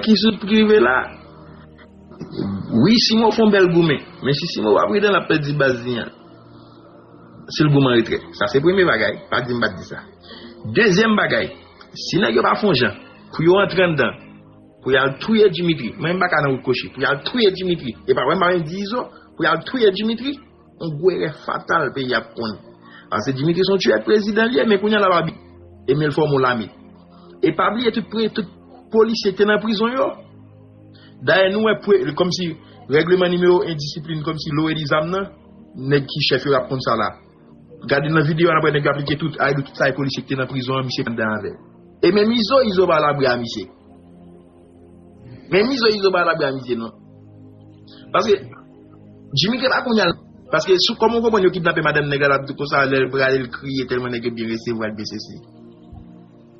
Ki sous ki rive la? Wi Simo fon bèl goumen, men si Simo pa pridan lap pèdi baz li an sil goumen anretrè. Sa se premye bagay, pa dim pat di sa. Dezyèm bagay, si nèg yo pa fon jan pou yo antre anndan pou yal touye Dimitri, mwen menm m paka nan wout kochi pou yal touye Dimitri, epa wèm pa menm di Izo, pou yal touye Dimitri. On gwo erè fatal peyi ap konn. Pase Dimitri son tuè prezidan liye men kounya lap abi e menl fòm on lame. E pa bliye tout pre tout polisye ki te nan prizon yo. Dayè nou wè pre kòm si règleman nimewo endisiplin kòm si lowe di zam nan nèg ki chèf yo ap konn sa la. Gade nan videyo an apre nèg yo ap like tout a e dou tout sa e polisye ki te nan prizon an misye pa nan avèl. E menm izo izo pa labre a misye. Men izo izo pa labri amitye non. Paske Jimmy ke pa kounya Paske sou koman ou konprann yo kidnape madanm nèg la lap di konsa lèl prale l kriye tèlman nèg yo byen resevwa l byen sesi.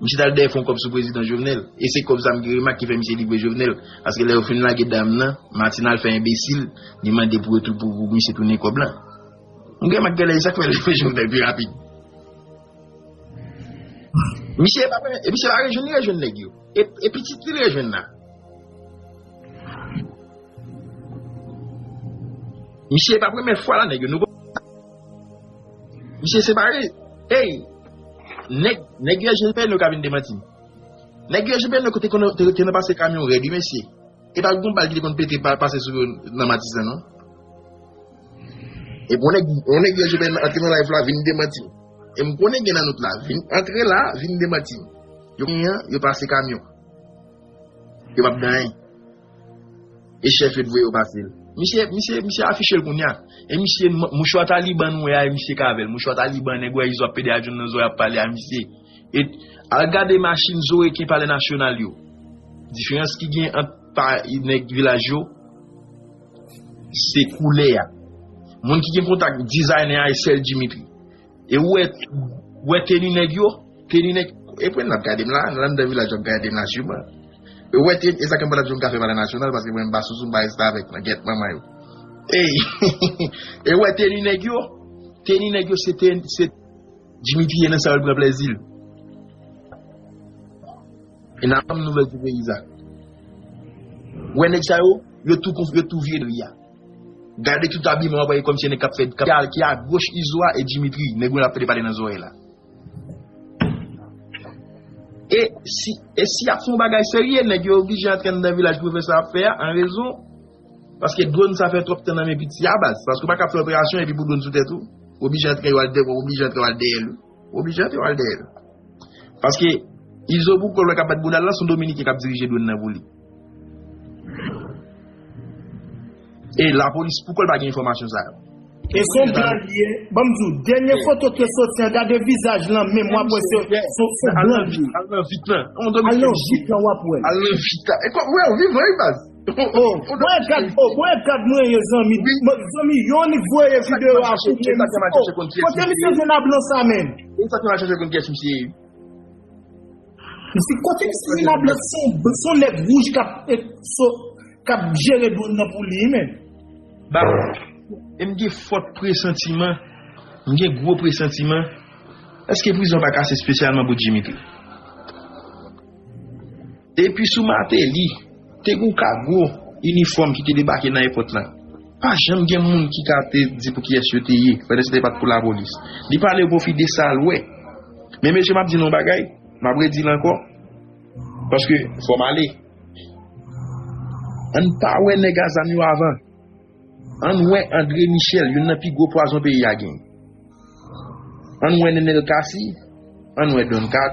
Misye tal dèyè fon kòb sou prezidan Jovenel e se kòb sa m gen remak ki fè misye livre Jovenel paske lè yo fin lage dam nan Martine al fè enbesil li mande pou yo pou misye tounen kòb la. M gen remak genlè e sak fè yo livre Jovenel pi rapid. Misye e pa fè e misye pa rejwenn li rejwenn nèg yo. E pitit li rejwenn la. Misye pa premye fwa la nèg yo nou. Misye separe. Ey. Nèg nèg yo jwenn nou ka vin demanti. Nèg yo jwenn nou kote kono te nan pase kamyon rèd wi mesye. E pa gon bal ki te konn pete pa pase sou nan matizan non. E bon nèg on nèg yo jwenn antre nan live la vin demanti. E m konnen gen nan nou la vin antre la vin demanti. Yo gen yan, yo pase kamyon. Yo pap gen anyen. E chef yo t voye yo pase l. Misye, misye, misye afiche l kounya. E misye, mouchwa taliban nou wè a e misye k avè l. Mouchwa taliban nèg wè izo ap pede ajoun nan zo y ap pale a misye. E al gade machin zo reken palè nasyonal yo. Diferans ki gen ant pa nèg vilaj yo se koulè a. Moun ki gen kontak dizayne a e sèl Dimitri. E ou wè teni nèg yo? Teni nèg, e pwen nap gade m la, nan anndan vilaj yo ap gade m la siman. Ou wè teni, e sa ke m pa tap di w m ka fè palè nasyonal paske mwen m pa sousou m pa restavèk nan gèt manman yo. Ey! E ou wè teni nèg yo? Teni nèg yo se teni, se. Jimmy piye nan sa yo l pran plèzi l. E nan banm nouvèl ti peyi sa. Ou wè nèg sa yo? Yo tou konf, yo tou vye dri a. Gade tout abiman wap wè komsi se nèg kap fè kap ki a goch izo a e Dimitri nèg mwen ap fè depale nan zòrèy la. E si e si yap fè yon bagay serye nèg yo oblije antre anndan vilaj pou yo fè sa yap fè a an rezon paske dwòn sa fè twòp tan nan men piti a baz paske ou paka fè operasyon epi pou dwòn sou tèt ou oblije antre yo al dèyè ou oblije antre yo al dèyè l. Oblijan te wal dèyèl. Paske Izo pou kòl wè kap bat boudal la son dominiken kap dirije dwèn nan pou li. E la polis pou kòl pa gen enfòmasyon sa yo. E son blan li ye, banm di w, dènye foto ki te soti an gade vizaj lan menm wap wè se son blan li ye. Al nan vit lan. Al nan vit lan wap wèl. Al nan vit lan. Ou wèl vivan wi baz. Mwen gad mwen ye zanmi Zanmi yonik voye video a pou mwen Kote misye jwenn a blan sa menm Mwen sa ki mwen chèche konn kyes misye ye Misye kote misye jwenn a blan sa menm Son nèg wouj kap jere dwon nan pou li menm Bab Mwen gen fòt presantiman Mwen gen gwo presantiman Eske prizon pa kase spesyalman pou Dimitri? Epi sou Martelly, te gen yon kago inifòm ki te debake nan èpòt la. Pa janm gen moun ki ka te di pou kiyès yo te ye, pandan se te pa t pou lapolis. Li pale o pwofi de sa l wè. Men mesye m ap di nou yon bagay, m ap redi l ankò, paske fò m ale. Ann pa wè nèg a zam yo avan. Ann wè André Michel, youn nan pi gwo pwazon peyi a genyen. Ann wè Nenel Cassy, ann wè Don Kato.